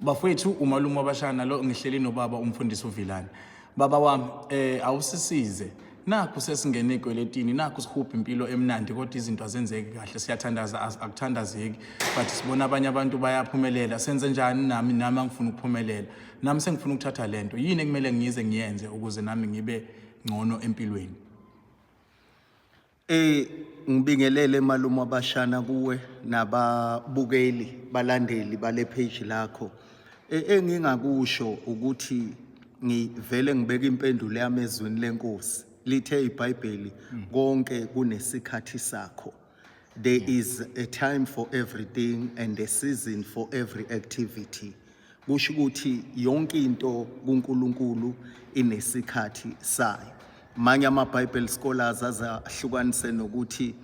bafowethu umalume wabashaya nalo ngihleli nobaba umfundisi uvilane baba wami eh awusisize nakhu sesingene ekweletini nakhu sihubha impilo emnandi kodwa izinto azenzeki kahle siyathandaza akuthandazeki but sibona abanye abantu bayaphumelela senze njani nami nami angifuni ukuphumelela nami sengifuna ukuthatha le nto yini ekumele ngize ngiyenze ukuze nami ngibe ngcono empilweni Ey ngibingelele malume wabashana kuwe nababukeli balandeli bale page lakho. E, engingakusho ukuthi ngivele ngibeke impendulo yami ezwini lenkosi. Lithe iBhayibheli hmm. konke kunesikhathi sakho. There hmm. is a time for everything and a season for every activity. kusho ukuthi yonke into kuNkulunkulu inesikhathi sayo manye ama-bible scholars aze ahlukanise nokuthi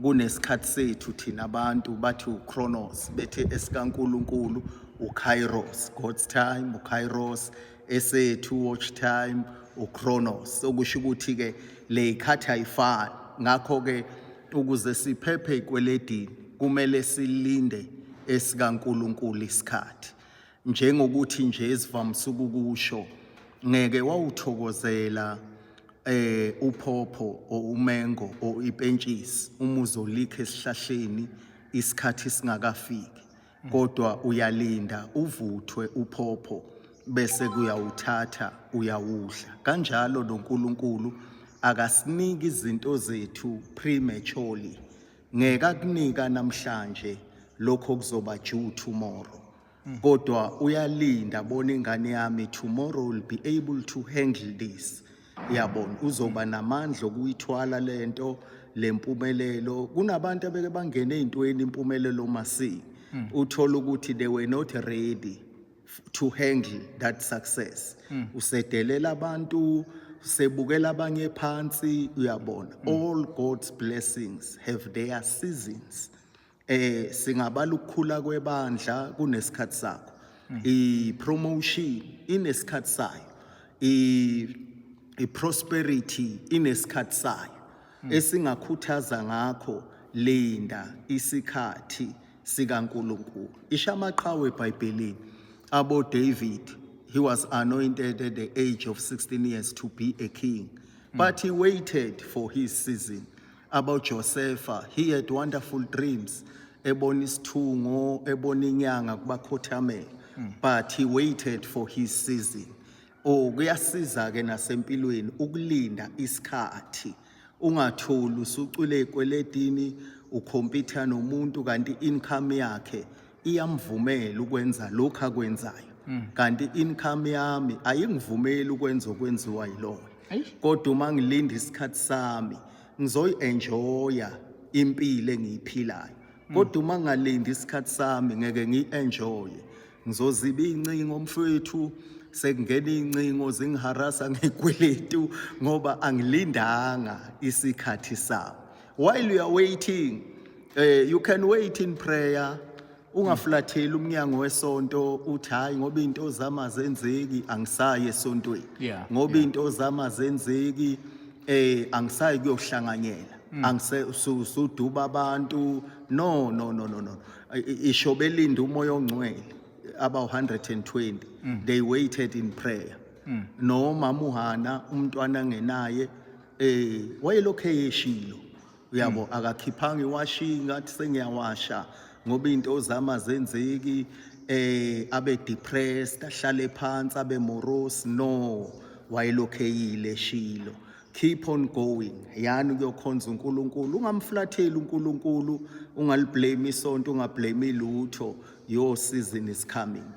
kunesikhathi sethu thina abantu bathi uchronos bethi esikankulunkulu ukairos god's time ukairos esethu watch time uchronos okusho ukuthi-ke le ikhathi ayifani ngakho-ke Ukuze siphephe ekweledini kumele silinde esikaNkulunkulu isikhathi. Njengokuthi nje esivamise ukukusho ngeke wawuthokozela eh uphopho or umengo or ipentshisi uma uzolikha esihlahleni isikhathi singakafiki kodwa uyalinda uvuthwe uphopho bese kuyawuthatha uyawudla kanjalo noNkulunkulu akasiniki izinto zethu prematurely ngeke akunika namhlanje lokho kuzoba due tomorrow kodwa uyalinda bona ingane yami tomorrow will be able to handle this yabona uzoba namandla okuyithwala lento lempumelelo kunabantu abeke bangena ezintweni impumelelo masi hmm. uthola ukuthi they were not ready to handle that success hmm. usedelela abantu sebukela abanye phansi uyabona hmm. all god's blessings have their seasons eh singabala ukukhula kwebandla kunesikhathi sakho mm. i promotion inesikhathi sayo i i prosperity inesikhathi sayo mm. esingakhuthaza ngakho linda isikhathi sikaNkuluNkulu isha amaqhawe eBhayibhelini abo David he was anointed at the age of 16 years to be a king mm. but he waited for his season about Josefa. He had wonderful dreams. Ebona isithungo, ebona inyanga kubakhothamela. But he waited for his season. Oh, kuyasiza ke nasempilweni ukulinda isikhathi. Ungatholi usucwile ekweletini, ukhompitha nomuntu kanti income yakhe iyamvumela ukwenza lokhu akwenzayo mm. kanti income yami ayingivumeli ukwenza okwenziwa yilona kodwa uma ngilinda isikhathi sami ngizoyi-enjoya impilo engiyiphilayo mm. kodwa uma ngalindi isikhathi sami ngeke ngiyi-enjoye ngizoziba iy'ncingo mfwethu sekungena iy'ncingo zingiharasa ngekweletu ngoba angilindanga isikhathi sami while you are waiting eh you can wait in prayer ungaflatheli umnyango wesonto uthi hayi ngoba into zama zenzeki angisayi esontweni Yeah, ngoba yeah. into zama zenzeki eh angisayi kuyohlanganyela Mm. angise su- suduba abantu no no no no no I- i- isho belinda umoya ongcwele aba 120 Mm. they waited in prayer nomama uhana umntwana ngenaye eh wayelokhu eyeshilo uyabo hmm. akakhiphanga iwashi ngathi sengiyawasha ngoba into zama zenzeki eh abe depressed ahlale phansi abe morose no wayelokhu eyile shilo keep on going yani kuyokhonza uNkulunkulu ungamflatheli uNkulunkulu ungaliblame isonto ungablame lutho your season is coming